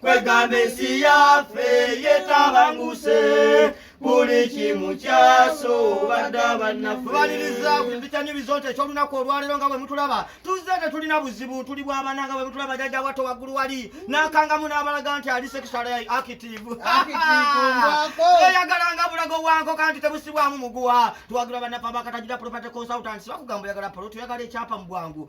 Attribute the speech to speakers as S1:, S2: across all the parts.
S1: kwegamba ensi yaffe yetabanguse buli kimu kyaso badda bannafebaliriza kumpitanyirizo nti ekyolunaku olwaleero nga bwe mutulaba tuzze tetulina buzibu tuli bwabana nga bwe mutulaba jajja watto waggulu wali n'akangamu n'abalaga nti ali sekisala akitivu eyagalanga bulago wanko kanti tebusibwamu muguwa tuwagira bannaffe abakatagira property consultants bakugamba oyagala polo tuyagala ekyapa mu bwangu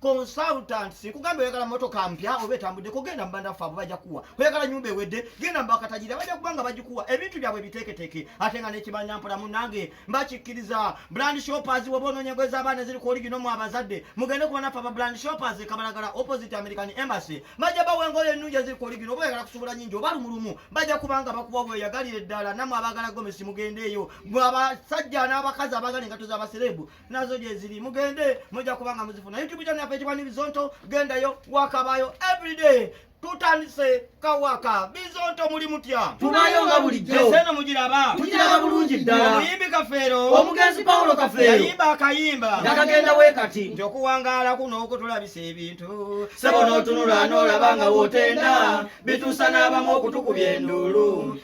S1: consultants kugamba oyagala motoka mpya oba etambudde kugenda mubanda ffe abo bajja kuwa oyagala nyumba ewedde genda mubakatajira bajja kubanga bagikuwa ebintu byabwe biteeketeke ate nga nekimanya mpola munange mbakikkiriza brand shoppers woba ononyego ez'abaana eziri ku oligino mu abazadde mugende kuba naffe aba brand shoppers ekabalagala opposite american embassy bajja bawa engoyo ennungi eziri ku oligino oba oyagala kusubula nyingi oba lumulumu bajja kubanga bakuwa bweyagalira eddala namwe abagala gomesi mugendeeyo mwe abasajja n'abakazi abagala engato z'abasereebu nazo gyeziri mugende mujja kubanga muzifuna youtube channel yaffe ekibwa nibizonto gendayo wakabayo everyday tutandise kawaka bizonto muli mutya tubayo nga bulijjoeseno
S2: mugiraba
S1: tugiraba bulungi ddala
S2: omuyimbi kafeero
S1: omugenzi pawulo
S2: kafeero yayimba akayimba
S1: nakagenda we kati
S2: nti okuwangaala kuno
S1: okutulabisa ebintu sebo n'otunula
S2: n'olaba nga wotenda bituusa n'abamu okutukubya enduulu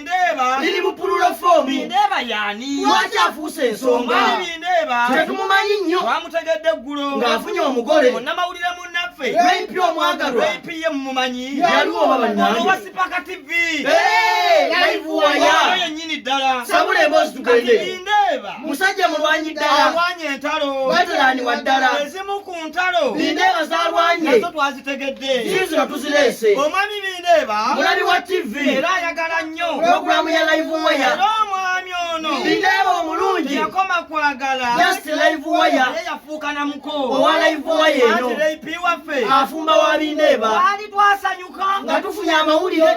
S2: Ndeeba
S1: liri mu pululo
S2: foomu. Ndeeba yani
S1: lwaki afuuse
S2: ensonga. Mami ndeeba
S1: tetumumanyi nnyo.
S2: Twamutegedde eggulo
S1: ng'afunye omugole.
S2: Munnamawulire munnaffe
S1: Rape omwagalwa.
S2: Rape ye mumumanyi.
S1: Yaliwo oba bannange.
S2: Ono wa Sipaka TV.
S1: Hey,
S2: live waya. Ono yennyini ddala.
S1: Sabula emboozi tugende.
S2: Kati ndeeba musajja
S1: mulwanyi
S2: ddala. Alwanye entalo.
S1: Veteran wa ddala.
S2: Ezimu ku ntalo
S1: bindeeba zalwanye
S2: nazo twazitegedde
S1: ziizino tuzireese
S2: omwami bindeeba
S1: mulabi wa tv
S2: era ayagala nnyo
S1: pulogulaamu ya live
S2: waya era omwami ono
S1: bindeeba omulungi
S2: yakoma kwagala
S1: just live
S2: waya naye yafuuka na muko
S1: owa live waya
S2: eno waffe
S1: afumba wa bindeeba
S2: twali twasanyuka
S1: nga tufunye
S2: amawulire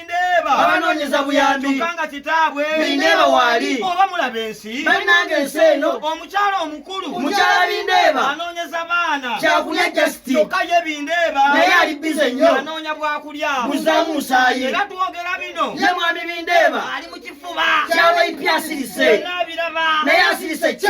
S1: abanoonyeza buyambi
S2: kyokka nga kitaabwe
S1: bindeeba waali
S2: oba mulaba ensi
S1: balinanga ensi eno
S2: omukyala omukulu
S1: omukyala bindeeba
S2: anoonyeza baana
S1: kyakulya jasiti
S2: kyokka ye bindeeba
S1: naye ali bize
S2: nnyo anoonya bwakulya
S1: buzaamu musaayi
S2: era twogera
S1: bino ye mwami bindeeba
S2: ali mu kifuba
S1: kyabaipya
S2: asirise naye
S1: asirise
S2: kye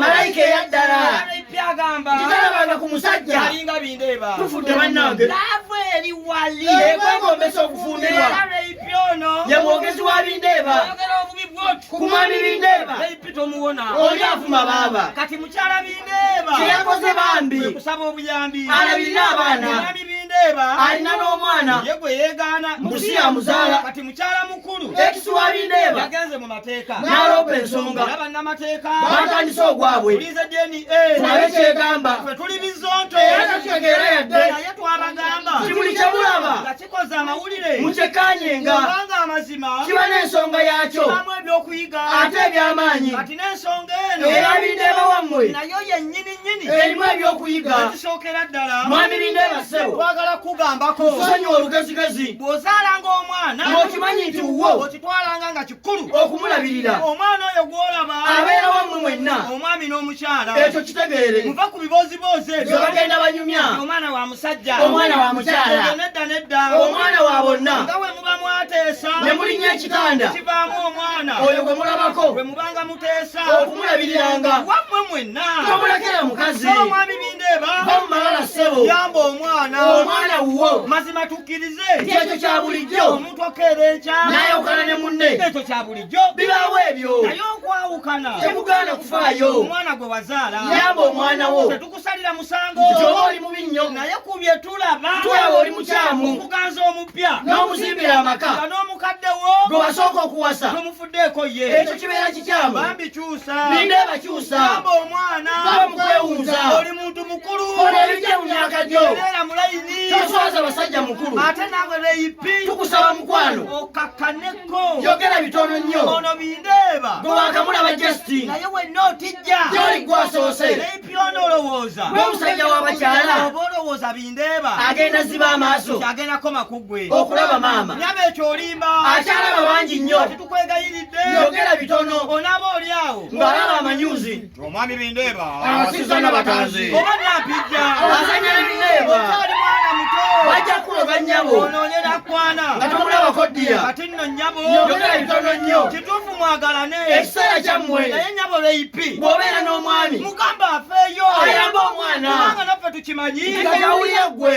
S1: malayika eyaddala
S2: agamba
S1: ku musajja
S2: alinga bindeeba
S1: tufudde bannange
S2: laavu eri
S1: wali ekwegombesa
S2: okufumbirwa
S1: ye mwogezi wa
S2: bindeeba
S1: kumwami
S2: bindeeba
S1: oli avuma baaba
S2: kati mukyala bindeeba
S1: kyeyakoze
S2: bambi
S1: kusaba
S2: obuyambi
S1: alabirira
S2: abaana
S1: alina n'omwana
S2: ye gwe yeegaana
S1: mbusi yamuzaala
S2: kati Mukyala mukulu
S1: ekisiwabindeeba
S2: yagenze mu mateeka
S1: n'aloopa ensonga
S2: era bannamateeka
S1: baatandise ogwabwe
S2: tulize DNA
S1: tulabe kyegamba
S2: ffe tuli bizonto
S1: era tetutegeera
S2: yadde naye twabagamba
S1: kimuli kye mulaba
S2: nga kikoze amawulire
S1: mukyekanyenga
S2: kubanga amazima
S1: kiba n'ensonga
S2: yaakyo kibamu ebyokuyiga
S1: ate eby'amaanyi
S2: kati n'ensonga
S1: eno erabindeeba wammwe
S2: nayo yennyini
S1: erimu ebyokuyiga
S2: ekisookera ddala
S1: mwami lindeeba ssebo
S2: twagala kukugambako
S1: kusonyiwa olugezigezi
S2: bw'ozaalanga
S1: omwana okimanyi nti wuwo
S2: okitwalanga nga kikulu
S1: okumulabirira
S2: omwana oyo
S1: gw'olaba abeera wamu mwenna
S2: omwami n'omukyala
S1: ekyo kitegeere
S2: muva ku bibooziboozi
S1: ebyo bagenda banyumya
S2: omwana wa musajja
S1: omwana wa mukyala
S2: nedda nedda
S1: omwana wa bonna
S2: nga we muba mwateesa
S1: ne mulinnya ekitanda
S2: kivaamu omwana
S1: oyo gwe mulabako
S2: gwe mubanga
S1: okumulabiriranga
S2: wammwe mwenna
S1: tomulekera mukazi
S2: omwami bindeeba
S1: bamumalala
S2: ssebo yamba omwana
S1: omwana wuwo
S2: mazima tukkirize
S1: kyekyo kya
S2: bulijjo omuntu okeera enkya
S1: nayawukana ne munne
S2: ekyo kya bulijjo
S1: bibaawo ebyo
S2: naye okwawukana
S1: temugaana kufaayo
S2: omwana gwe wazaala
S1: yamba omwana wo
S2: kusalira musango
S1: oba oli mubi nnyo
S2: naye ku bye tulaba
S1: tulaba oli mukyamu
S2: okuganza omupya
S1: n'omuzimbira amaka
S2: nga n'omukadde wo
S1: gwe wasooka okuwasa
S2: tomufuddeeko ye
S1: ekyo kibeera kikyamu
S2: bambi kyusa
S1: ninde bakyusa
S2: amba omwana
S1: bamukwewunza
S2: oli muntu mukulu
S1: olebijja mu myaka
S2: gyo era mulayini
S1: toswaza basajja
S2: mukulu ate naawe beyipi
S1: tukusaba mukwano
S2: okakkane
S1: yogera bitono
S2: nnyo ono bindeeba
S1: gwe wakamulaba
S2: justin naye wenna otijja
S1: gyoli gwasoose
S2: naye pyona
S1: olowooza gwe omusajja
S2: w'abakyala oba olowooza
S1: bindeeba agenda ziba amaaso
S2: kyagenda koma ku gwe
S1: okulaba maama nyaba
S2: ekyo olimba
S1: akyalaba bangi
S2: nnyo tetukwegayiridde
S1: yogera bitono
S2: onaaba oli awo
S1: ng'alaba amanyuzi
S2: Omwami Bindeeba
S1: awasizza n'abatanzi
S2: oba nampijja
S1: azanya Bindeeba
S2: okyali mwana
S1: muto bajja kuloga
S2: nnyabo onoonye nakwana
S1: nga tomulabako
S2: ddiya kati nno nnyabo
S1: yogera bitono nnyo
S2: kituufu mwagalane
S1: ekiseera kyammwe
S2: naye nnyabo leipi
S1: bw'obeera n'omwami
S2: mugamba afeeyo
S1: ayamba omwana
S2: kubanga naffe tukimanyi
S1: nti gajawulira ggwe